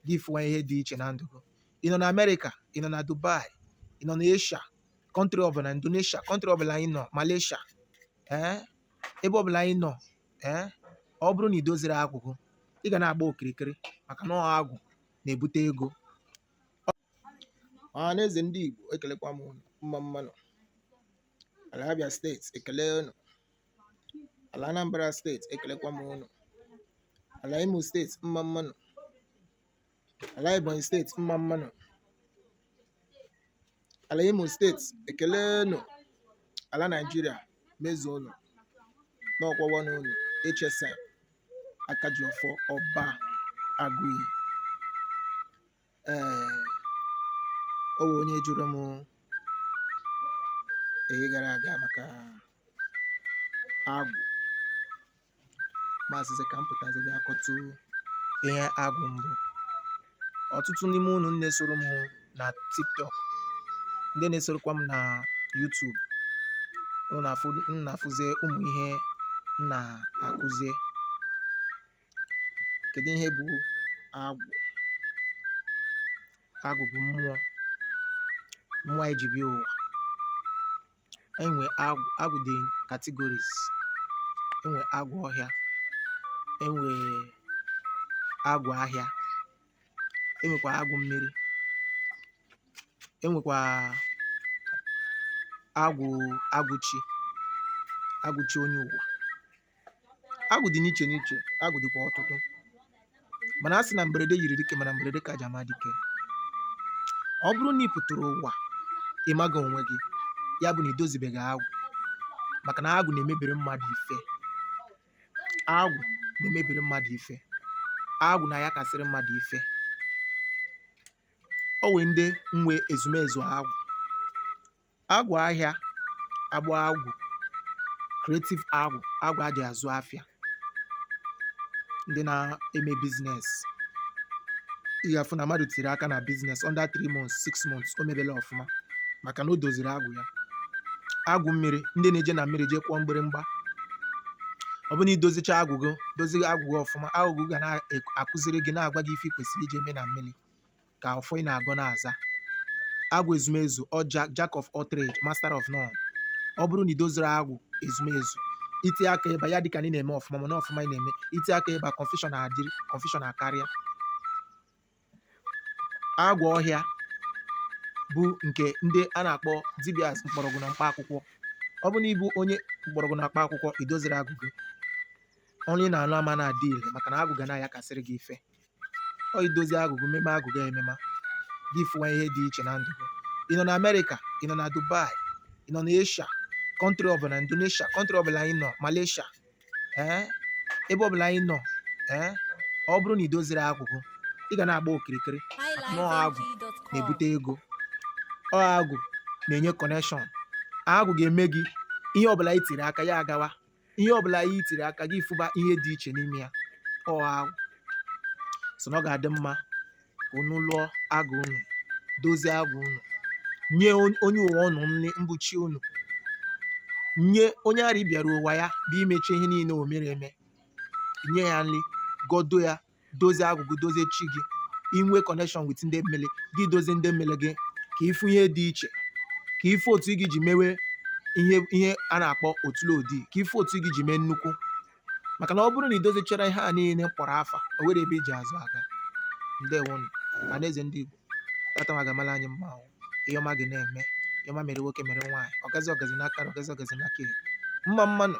gị ị fụwa ihe dị iche na ndụ gị ị nọ na amerịka ị nọ na dubai ị nọ na asia kọntrị ọbụla indonesia kọntrị ọbụla anyị nọ malaysia ee ebe ọbụla anyị nọ ee ọ bụrụ na ị doziri agwụ gị ị ga na-agba okirikiri maka na ọ agwụ na-ebute ego ọha na eze ndị igbo ekelekwa m unu mma mmanụ ala abia steeti ekele unu ala Anambra steeti ekelekwa m unu ala Imo steeti mma mmanụ ala Ebonyi steeti mma mmanụ ala Imo steeti ekele nụ ala Naijiria mezuo unu n'ọkwa nwanne unu HSM aka ji ọfọ ọba agụiyi ee o nwe onye jụrụ m eyi gara aga maka agwụ m asịzi ka m pụtazi bịa kọtụ ihe agwụ bụ ọtụtụ n'ime unu ndị na-esoro m na tiktok ndị na-esorokwa m na youtube unu na-afụ- unu na-afụzie ụmụ ihe m na-akụzie kedu ihe bụ agwụ agwụ bụ mmụọ mmụọ anyị ji bịa ụwa enwe agwụ agwụ dị categories enwe agwụ ọhịa enwe agwụ ahịa enwekwa agwụ mmiri enwekwa agwụ agwụ chi agwụ chi onye ụwa agwụ dị n'iche n'iche agwụ dịkwa ọtụtụ mana a sị na mberede nyiri dike mana mberede ka e ji ama dike ọ bụrụ na ị pụtara ụwa ị maghị onwe gị ya bụ na i dozibeghị agwụ maka na agwụ na-emebiri mmadụ ife agwụ na-emebiri mmadụ ife agwụ na-ayakasịrị mmadụ ife o nwe ndị nwe ezumezu agwụ Agwụ ahịa agba agwụ creative agwụ agwụ a ji azụ afịa ndị na-eme biznes ị ga-afụ na mmadụ tiri aka na biznes under 3 months 6 months o mebela ọfụma maka na o doziri agwụ ya agwụ mmiri ndị na-eje na mmiri jee kụọ mgbịrịmgba ọ bụrụ na i dozicha agwụ gị dozie agwụ gị ọfụma agwụ gị ga na-akụziri gị na-agwa gị ife ị kwesịrị ije mee na mmiri ka ọfọ ị na-agọ na-aza agwụ ezumezu ọ ja- jack of all trade master of none ọ bụrụ na i doziri agwụ ezumezu i ti aka eba ya adị ka na ị na-eme ọfụma mana ọfụma ị na-eme i ti aka eba confusion adịrị confusion akarịa agwụ ọhịa bụ nke ndị a na-akpọ dibias mkpọrọgwụ na mkpa akwụkwọ ọ bụrụ na ị bụ onye mkpọrọgwụ na mkpa akwụkwọ i doziro agwụ gị ọnụ ị na-anụ ama na-adị ire maka na agwụ ga na-ayakasịrị gị ife ọ idozi agwụ gị meme agwụ gị emema gị fụwa ihe dị iche na ndụ gị ị nọ na amerịka ị nọ na dubai ị nọ na asia country ọbụla indonesia country ọbụla ị nọ malaysia ee ebe ọbụla ị nọ ee ọ bụrụ na ị doziro agwụ gị ị ga na-agba okirikiri na ọ agwụ na-ebute ego ọ agwụ na-enye connection agwụ ga-eme gị ihe ọbụla i tiri aka ya agawa ihe ọbụla i tiri aka gị fụba ihe dị iche n'ime ya ọ agwụ so na ọ ga-adị mma ka unu lụọ agwụ unu dozie agwụ unu nye on- onye ụwa unu nri mbuchi unu nye onye ara bịara ụwa ya bụ imecha ihe niile o mere eme nye ya nri gọdo ya dozie agwụ gị dozie chi gị i nwee connection with ndị mmili gị dozie ndị mmili gị ka ị fụ ihe dị iche ka ị fụ otu ị ga-eji mewe ihe ihe a na-akpọ otule odi ka ị fụ otu ị ga-eji mee nnukwu maka na ọ bụrụ na ị dozichara ihe a niile kpọrọ afa o nwero ebe i ji azụ aga ndewonụ na n'eze ndị Igbo tata ma ga-amala anyị mma ahụ ihe ọma gị na-eme ihe ọma mere nwoke mere nwaanyị ọgazi ọgazi n'aka ọgazi ọgazi n'aka ekpe. mma mmanụ